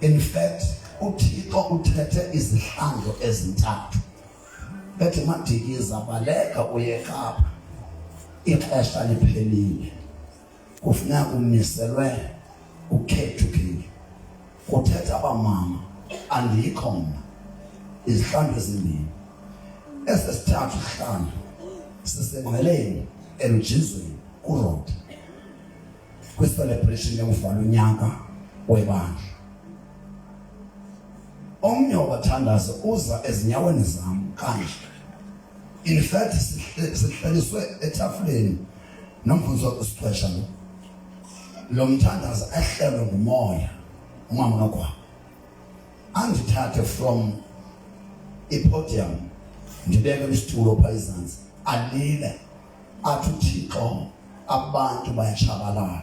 in fact uthixo uthethe izihlandlo ezintathu ethi madikiza baleka uye kapa ixesha liphelile kufuneka kumiselwe ukhethukile kuthetha abamama andikho mna izihlandlo ezimbini esesithathu isihlandlo sisengqeleni elujizweni kurota kwicelebration yokuvala unyaka webandla omnye wabathandazi uza ezinyaweni zam kanje in fact sihlaliswe etafuleni nomfundisi wakusixesha lo lo mthandazi ahlelwe ngumoya umama kakwabo andithathe from ipodium ndibeke isitulo phaa izantsi alile athi uthixo abantu bayatshabalala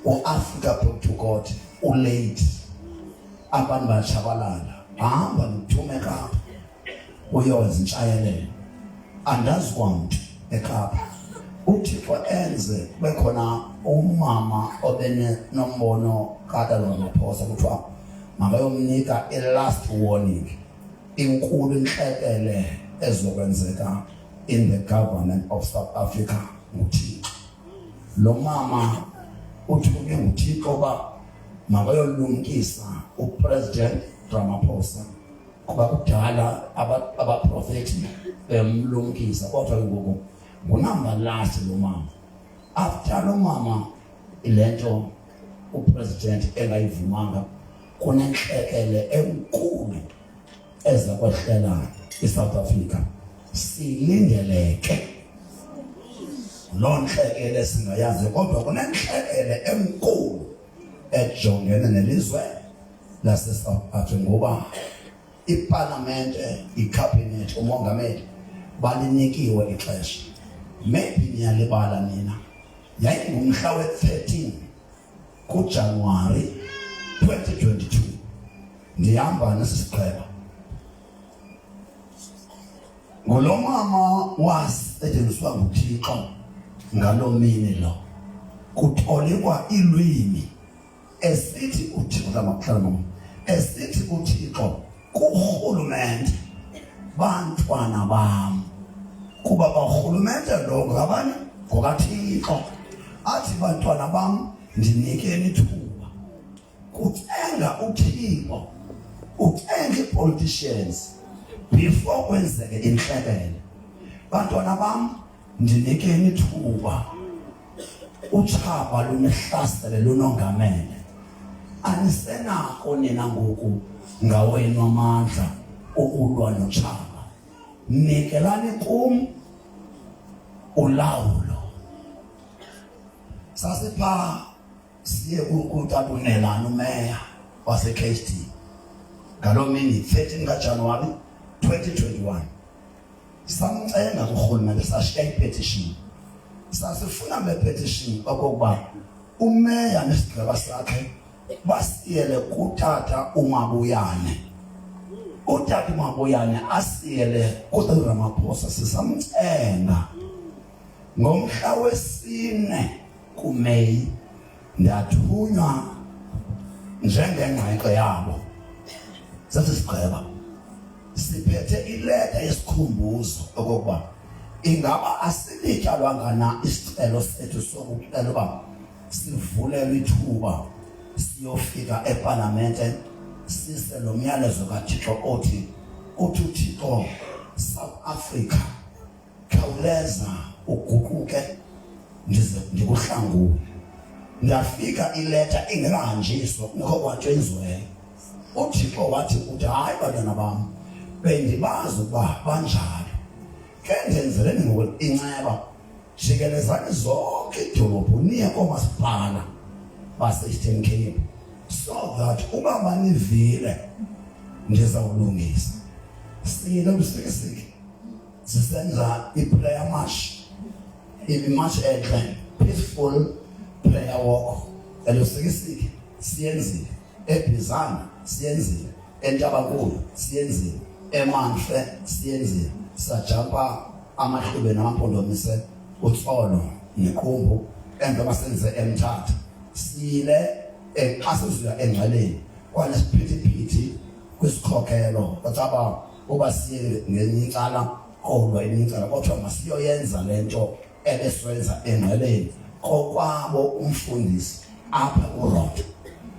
uafrika back to god ulate abantu bayatshabalala hamba nithume kapa uyoze intshayelelo andazi kwamntu ekapa uthixo enze kube khona umama obenombono kadalonaphosa kuthiwa makayomnika i-last warning inkulu intlekele ezokwenzeka in the government of South Africa nguThixo. Lo mama uthunywe nguThixo uba makayolumkisa uPresident Ramaphosa kuba kudala abaprofethi bemlumkisa kodwa ke ngoku ngunamba last lo mama after lo mama ile nto upresident engayivumanga kunentlekele enkulu eza kwehlela isouth africa silindeleke loo ntlekele singayazi kodwa kunentlekele enkulu ejongene nelizwe lasesouth africa ngoba ipalamente ikhabhinethi umongameli balinikiwe ixesha maybe niyalibala nina yayingumhla we-13 kuJanuwari 2022 ndihamba nesisiqheba ngulo mama wasetyenziswa nguthixo ngaloo mini lo kutolikwa iilwimi esithi uthixo lamakuhlala esithi uthixo kurhulumente bantwana bam kuba barhulumente lo ngabani ngokathixo athi bantwana bam ndinikeni ithuba kucenga uthixo ucenga ii-politicians before kwenzeke intlekele bantwana bam ndinikeni ithuba utshaba lunihlasele lunongamele anisenako nina ngoku ngawenu amandla okulwa notshaba nikelani kum ulawulo sasipha siye kutabunelana umeya wasekhd ngaloo mini 13 kajanuwari 2021 samcenga kurhulumente sashiya ipetition sasifuna le petition okokuba umeya nesigqeba sakhe basiyele kutata umabuyane utata umabuyane asiyele kutata ramaphosa sisamcenga ngomhla wesine kumeyi Ndathunywa njengengqengqe yabo. Sase sigqiba. Siphethe ileta yesikhumbuzo okokuba ingaba asilityalwanga na isicelo sethu sokucela uba sivulelwe ithuba siyofika epalamente sise lo myalezo kaThixo othi uthi uThixo South Africa khawuleza uguquke ndize ndikuhlangule ndafika ileta ingekahanjiswa kungekho kwanto enziweyo uthixo wathi uthi hayi bantwana bam bendibazi ukuba banjalo ke ndenzeleni ngoku inceba jikelezani zonke idolophu niye koomasipala base-eastern cape so that uba manivile ndizawulungisa siyile usikisiki sisenza iprayer march ibimarch enhle peaceful prayer walk elusikisiki siyenzile ebhizana siyenzile entabankulu siyenzile emanhle siyenzile sajampa amahlube namampondomise utsolo nequmbu emva basenze emthatha sile exasizwa engcweleni kwanesiphithi phithi kwisikhokelo kwatsaba uba siye ngelinye icala kodwa elinye icala kodwa masiyoyenza le nto ebesenza engqeleni kokwabo umfundisi apha kurodo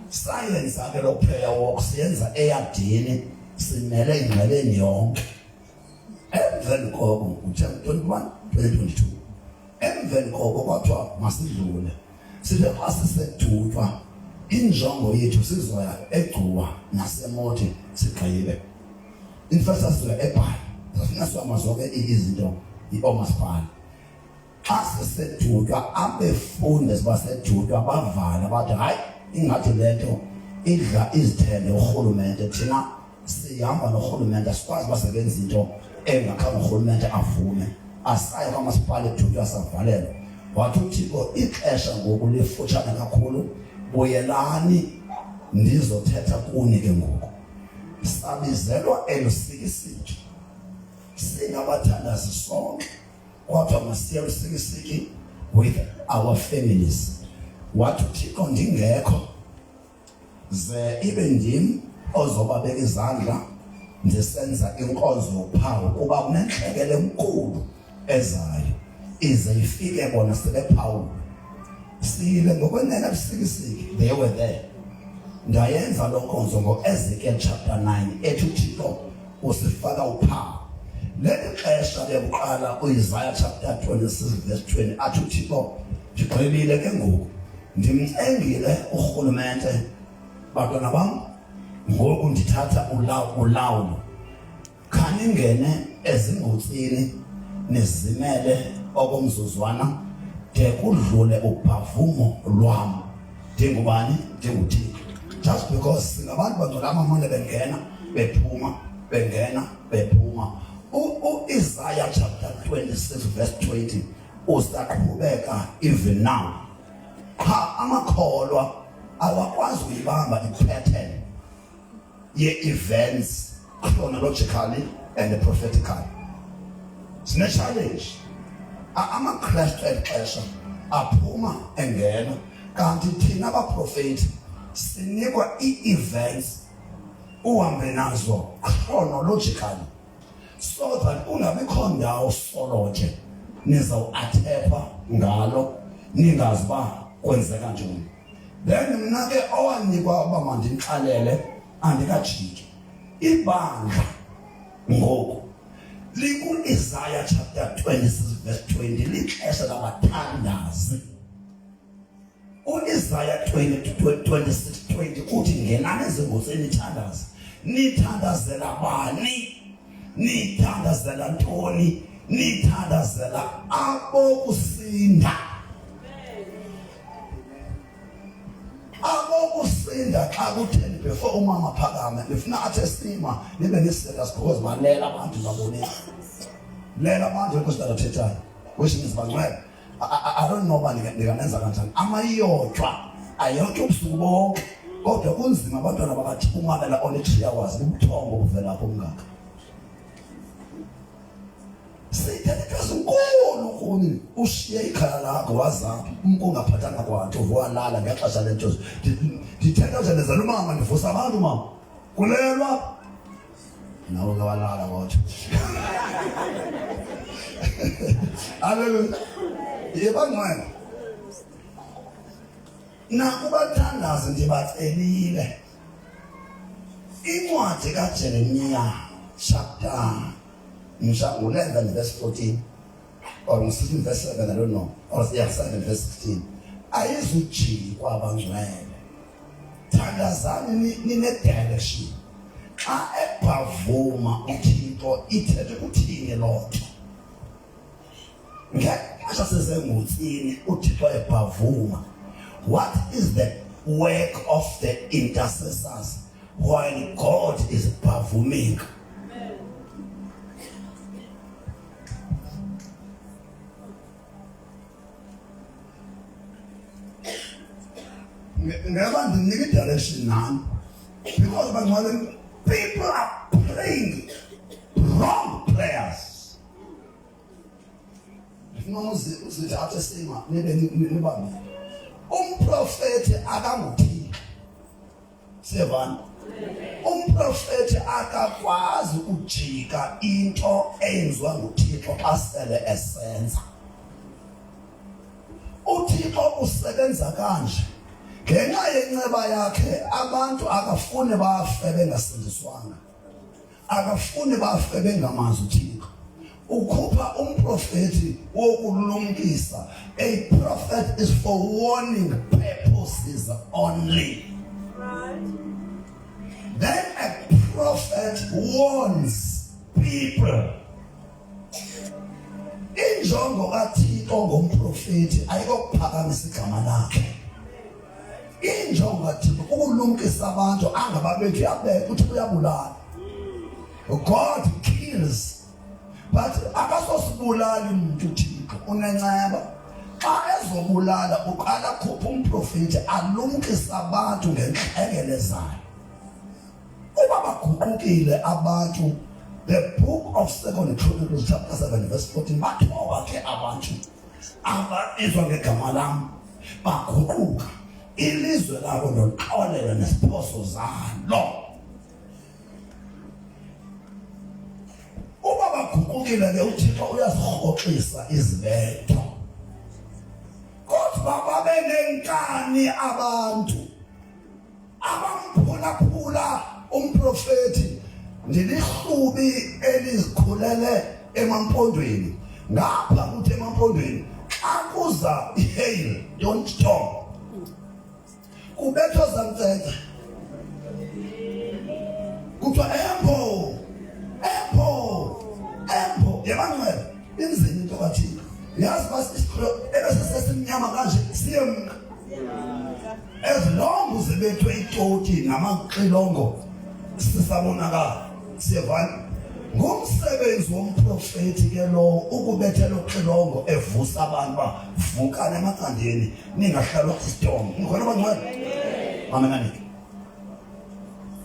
sayenza ke lo prayer walk siyenza eyadini simele ingqeleni yonke emveni koko ngo-2021 2022 emveni koko kwathiwa masidlule Sibe xa sisedutywa injongo yethu sizoya egcuwa nasemothi sigqibe. In fact sasizoya eBhayi. Safika sihamba zonke izinto yiomasipala. Xa sisedutywa abefundi basedutywa bavala bathi hayi ingathi le nto idla izithende urhulumente thina sihamba norhulumente asikwazi basebenza into engakhange urhulumente avume asaye kwamasipala edutywe asavalelwa wathi uthixo ixesha ngoku lifutshane kakhulu buyelani ndizothetha kuni ke ngoku sabizelwa elusikisiki singabathandazi sonke kodwa masiye lusikisiki with our families wathi uthixo ndingekho ze ibe ndim ozobabeka izandla ndisenza inkonzo yophawu kuba kunentlekele enkulu ezayo ize ifike bona sebephawula sile ngokwenene busikisiki they were there ndayenza loo nkonzo ngo-ezekiel chapter 9 ethi uthixo usifaka uphawu leli xesha lekuqala uisaya chapter 26 verse 20 athi uthixo ndigqibile ke ngoku ndimcengile urhulumente bantwana bam ngoku ndithatha ulawulo khaningene ezingotsini nizimele okomzuzwana de kudlule ubhavumo lwam ndingubani ndinguthixo just because singabantu bantwana amamane bengena bephuma bengena bephuma uisaya chapter 26 verse 20 Usaqhubeka even now. Qha amakholwa awakwazi uyibamba i-pattern ye-events chronologically and prophetically. Sine-challenge. AmaKristu eli xesha aphuma engena kanti thina baprofeti sinikwa ii-events uhambe nazo chronologically so that ungabikho ndawo solo nje nizawuathekwa ngalo ningazi uba kwenzeka njani then mna ke owanikwa uba mandimxalele andikajiki ibandla ngoku likuIsaya chapter 26 verse 20 lixesha labathandazi uIsaya 20:26 uthi ngenani ezingozi nithandaza nithandazela bani nithandazela ntoni nithandazela abokusinda abokusinda xa kutheni befo umama phakame ndifuna athe sima nibe niseka sikhokozi balela abantu babonile lela abantu enkosi ndathethayo weshingizi bangcwele I don't know uba ndikanenza kanjani amayiyotshwa ayotshwa ubusuku bonke kodwa kunzima abantwana bakathi umabela only three hours bubuthongo obuvela apho mngaka siyithetha zinkulu kuni ushiye ikhaya lakho wazaphi umntu ungaphathanga kwanto uvuwalala ngexesha le ntozi ndithetha nje ndezela umama ndivusa abantu mama kulelwa nabo kabalala kodwa haleluya yebangcwele nakubathandazi ndibacelile incwadi kajeremiya chapter mhla 11 verse 14 or msithi verse 7 i don't know or yeah 7 verse 16 ayizujiki kwabangcwele thandazani ninedirection xa ebhavuma uthixo ithethe kuthini loo nto ngexesha sisengutsini uthixo ebhavuma what is the work of the intercessors while god is bhavuming Ngaba ndinike direction nani because bangalenza people are praying wrong prayers. Ngifuna uzithathe sima nibe nibambile. Umprofeti akangothi sevana umprofeti akakwazi ukujika into eyenziwa nguthixo xa sele esenza uthixo usebenza kanje ngenxa yenceba yakhe abantu akafuni bafe bengasindiswanga akafuni bafe bengamazi uthixo ukhupha umprofeti wokulumkisa a prophet is for warning purposes only then a prophet warns people injongo kathixo ngomprofeti ayikokuphakamisa igama lakhe injongo thina ukulumkisa abantu angababethu yabeka ukuthi uyabulala god kills but akasosibulali mntu thixo unenceba xa ezobulala uqala khupha umprofeti alumkisa abantu ngentlekele zayo uba baguqukile abantu the book of second chronicles chapter 7 verse 14 bathoba ke abantu ababizwa ngegama lam baguquka ilizwe labo ndolixolela nesiphoso zalo uba baguqukile ke uthixo uyazirhoxisa izibetho kodwa babe nenkani abantu abamphulaphula umprofeti ndilihlubi elizikhulele emampondweni ngapha kuthi emampondweni xa kuza ihail don't stop kubethwa zantsentsa kuthiwa embo embo embo yemanxele inzima into kathina yazi basisikho ebesesesimnyama kanje siyemka ezilongo zibethwe itoti namaxilongo sisabonakala siyevana ngumsebenzi womprofeti ke lowo ukubethela uxilongo evusa abantu uba vukane emacandeni ningahlalwa isidomo ngikhona bangcwele amenanike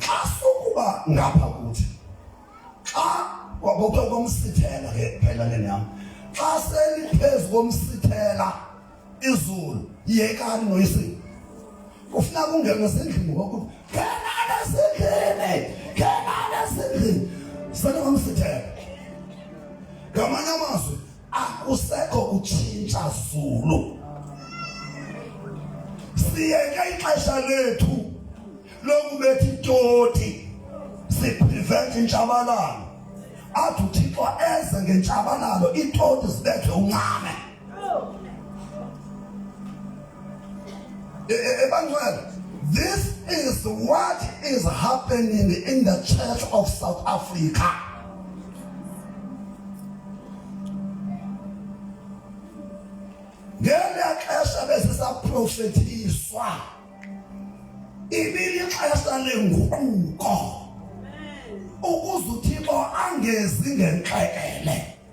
xa sukuba ngapha kuthi xa kwakuthiwa komsithela ke phela lenam xa seliphezu komsithela izulu yekani noyise kufuna kungena sendlini ngoku kenana sendlini kenana sendlini sana mamsithele ngamanye amazwi akusekho kutshintsha zulu siyeke ixesha lethu lokubethi itoti siprevent intshabalalo athi uthixo eze ngentshabalalo iitoti zibethwe uncame Ebantwana, this is what is happening in the Church of South Africa. Ngela xesha besisaprofethiswa ibilixesha lenguquko ukuze uThixo angezi ngenxekele.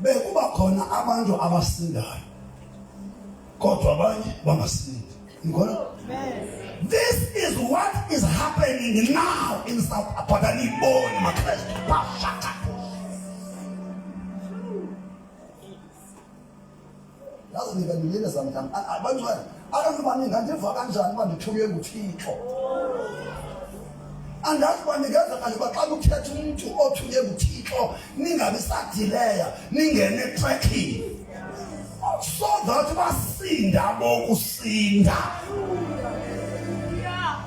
bekuba khona abantu abasindayo kodwa abanye bangasindi ngikholwa This is what is happening now in South Africa. Niboni maKristu bashaka. ndazinika ndilile zamntam abantwana abantu uba ningandiva kanjani uba ndithunywe nguthixo andazi uba ndingenza kanje uba xa kuthetha umntu othunywe nguthixo ningabi sadileya ningene etrekhini so that basinda bokusinda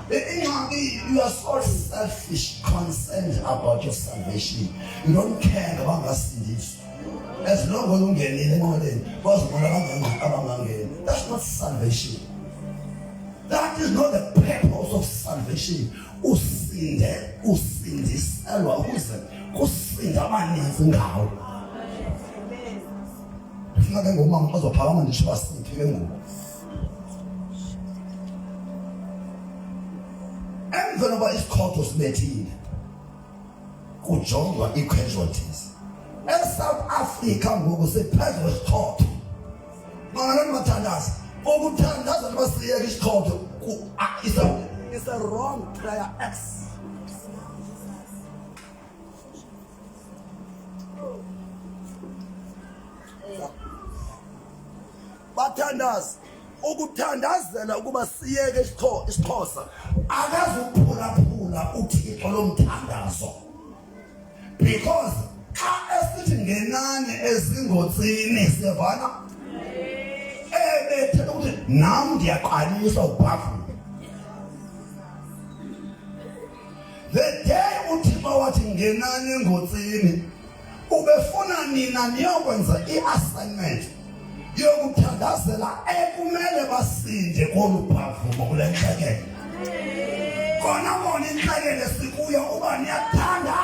ingxaki you are so selfish concerned about your salvation you don't care ngabangasindiswa As long as ungenile enqoleni, bazibona abangangeni abangangeni. That's not salvation. That is not the purpose of salvation. Usinde, usindiselwa ukuze kusinda abaninzi ngawo. Ndifuna ke ngomama azophakama nditsho basiphi ke ngoku. Emveni koba isikhotho sibethile kujongwa ii-casualties esouth africa ngoku siphezu kwesichotho mangalani bathandaza ukuthandaza noba siyeka isichotho is a wrong prayer x bathandaza ukuthandazela ukuba siyeke isixhosa akazuphulaphula uthixo lomthandazo because xa esithi ngenani ezingotsini siyavana ebethe ukuthi nam ndiyaqalisa ubhafula The day uThixo wathi ngenani engotsini ubefuna nina niyokwenza i-assignment yokuthandazela ekumele basinde kolu phavumo kule ntlekele kona kona intlekele sikuyo uba niyathanda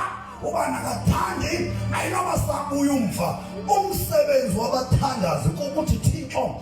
uba nakathandi ayinoba sabuya umva umsebenzi wabathandazi kukuthi thixo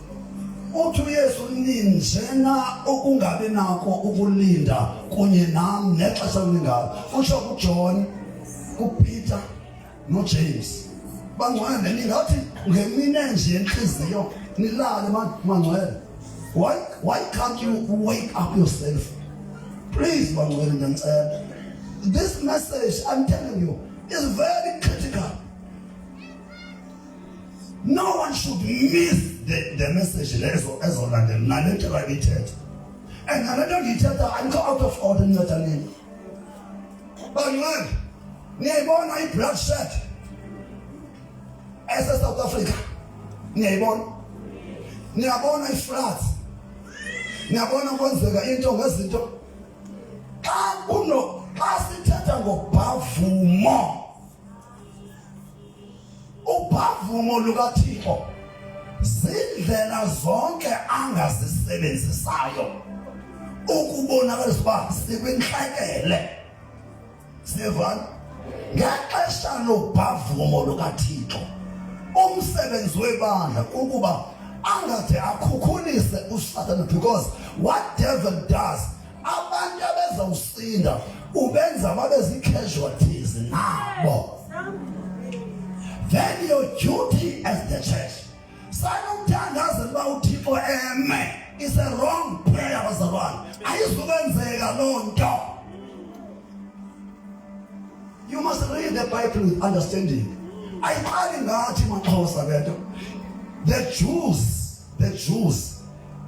uthi uyesu ninjena ukungabi nako ukulinda kunye nam nexesha lingalo utsho kujohn kupeter nojames bangcwele ningathi ngemine nje yentliziyo nilale mangcwele why, why can't you wake up yourself please bangcwele ndiyanicela this message i'm telling you is very No one should miss the, the message lezo ezolandela nale nto babithetha and nale nto ndiyithetha andikho out of order nceda nini banqandi niyayibona i-blood shed esesouth africa niyayibona niyabona ifloods niyabona kwenzeka into ngezinto xa kuno xa sithetha ngobhavumo Ubavumo lukaThixo zindlela zonke angazisebenzisayo ukubonakalisa uba sikwintlekele sivana ngexesha lobhavumo lukathixo umsebenzi webandla kukuba angade akhukhulise usatana because what devil does abantu abezawusinda ubenza babe zii-casualties nabo then your duty as the church sanomthandazela uba uthixo eme is a wrong prayer bazalwane ayizukwenzeka loo nto you must read the bible with understanding ayiqali ngathi maxhosa le nto the jews the jews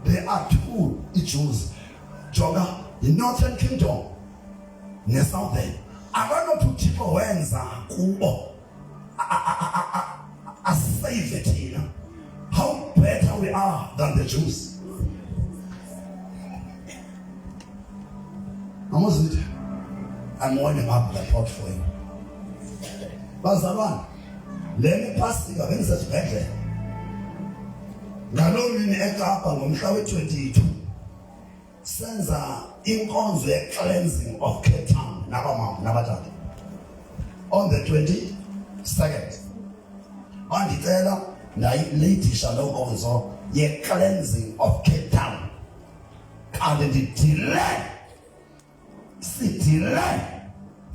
they are two i-jews Jonga, i-northern kingdom ne-southern akanothi uthixo wenza kubo asave thina how better we are than the jews amozitha I'm warning up the pot for you. Bazalwane Le miphasika bendisesibhedlele ngaloo mini ekapa ngomhla we-22 senza inkonzo ye-cleansing of cape town nabamama nabatata on the 22nd bandicela ndayileyidisha loo nkonzo ye-cleansing of cape town kanti ndidile sidile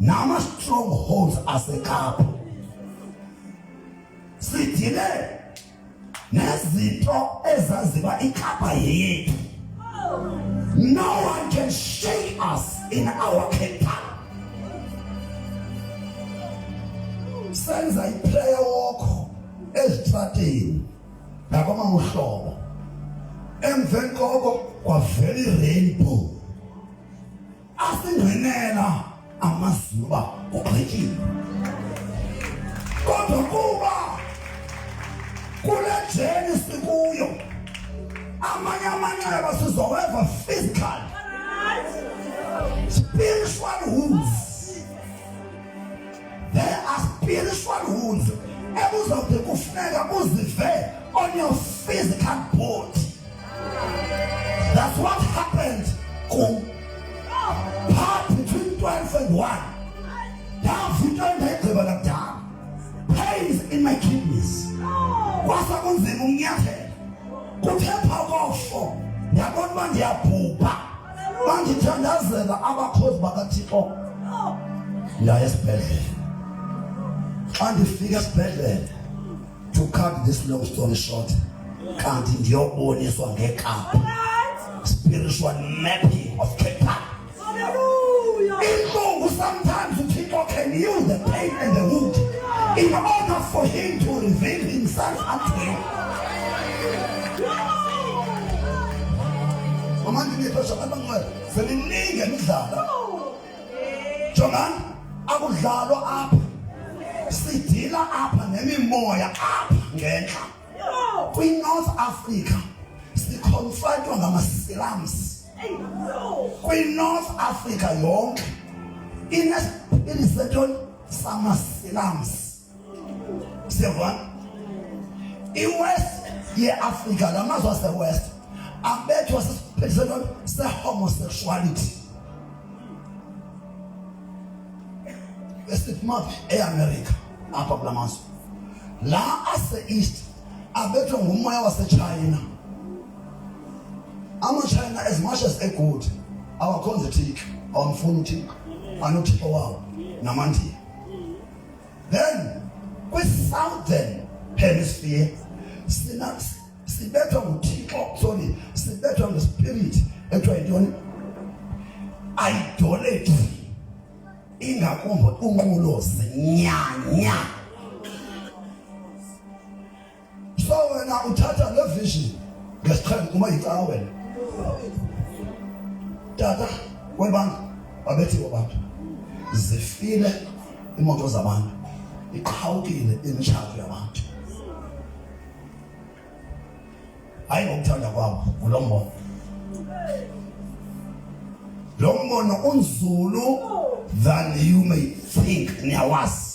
nama-strongholds asekapa sidile nezinto ezaziba ikapa yeyethu no one can shake us in our capital senza iprayer walk ezitrateni ndabama uhlobo emveni koko kwavela irainbow asingenela amazulu uba kugqityile kodwa kuba kule jeni sikuyo amanye amanxeba sizoweva physical spiritual wounds There are spiritual wounds ebuzawuthi kufuneka buzive on your physical body. That's what happened kum. Part between 12 and 1. Ndavutwa ndayigqiba nakudala. Pains in my kidneys. Kwasa kunzima ukunyathela. Kuthe phaa kofo ndabona uba ndiyabhubha. bandithandazela abakhozi bakathixo ndaya esibhedlele xa ndifika esibhedlele to cut this long story short kanti ndiyoboniswa ngekaphu spiritual mapping of Cape Town. Inkungu sometimes uThixo can use the pain and the wound in order for him to reveal himself unto you. seniningi emidlalo jongani akudlalwa apha sidila apha nemimoya apha ngentla kwi-north africa siconfrontwa ngamasilams kwi-north africa yonke inesipili setoni samasilams siyavana iwest yeafrika la mazwe asewest abethwa sisiphethiselo sehomosexuality esiphuma eamerica apha kula mazwe la ase-east abethwa ngumoya wasechina amachina as much as egood awakhonza ithixo awamfuni uthixo anothixo wawo namandiya Then kwi-southern hemisphere sina sibethwa nguthixo sorry sibethwa ngespirit ekuthiwa yintoni idolatry ingakumbi unqulo zinyanya so wena uthatha le vision ngesiqhelo uma yicawa wena tata webanga babethiwe abantu zifile imoto zabantu iqhawukile imitshato yabantu hayi ngokuthanda kwabo ngulo mbono lo mbono unzulu than you may think niyawazi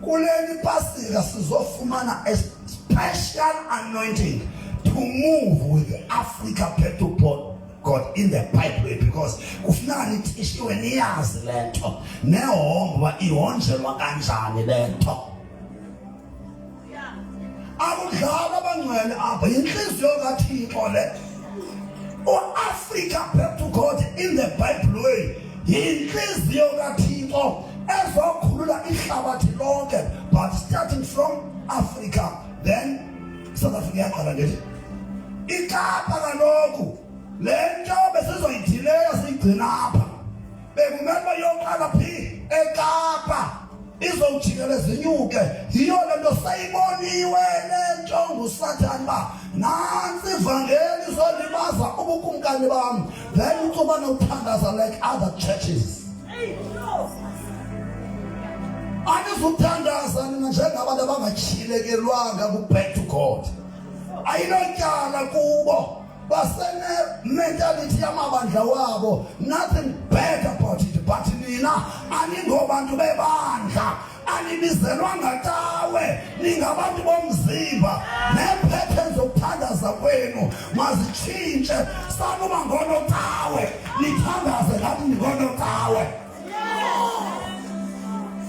Kule mipasika sizofumana a special anointing to move with the Africa Petrol Board God in the pipeline because kufuneka nithishiwe niyazi le nto nehombo uba ihonjelwa kanjani le nto akudlala abangcwele apho yintliziyo kathixo le uafrika back to god in the bible way yintliziyo kathixo ezokhulula ihlabathi lonke but starting from africa then south africa yaqala ngethi ikapa kaloku le nto besizoyidileyo siyigcina apha bekumele yoqala phi ekapa izowujikele zinyuke yiyo le nto sayiboniwe le nto ngusathane uba nantsi ivangeli izolibaza ubukumkani bam then ucoba nothandaza like other churches anizuthandaza nina njengabantu abangatyhilekelwanga kubhedu god ayinotyala kubo basenementality yamabandla wabo nothing bad about it but nina aningobantu bebandla anibizelwanga tawe ningabantu bomzimba neephethen zokuthandaza kwenu mazitshintshe sanuba ngonotawe nithandaze ngathi ndingonotawe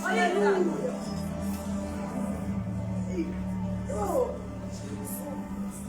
Hallelujah.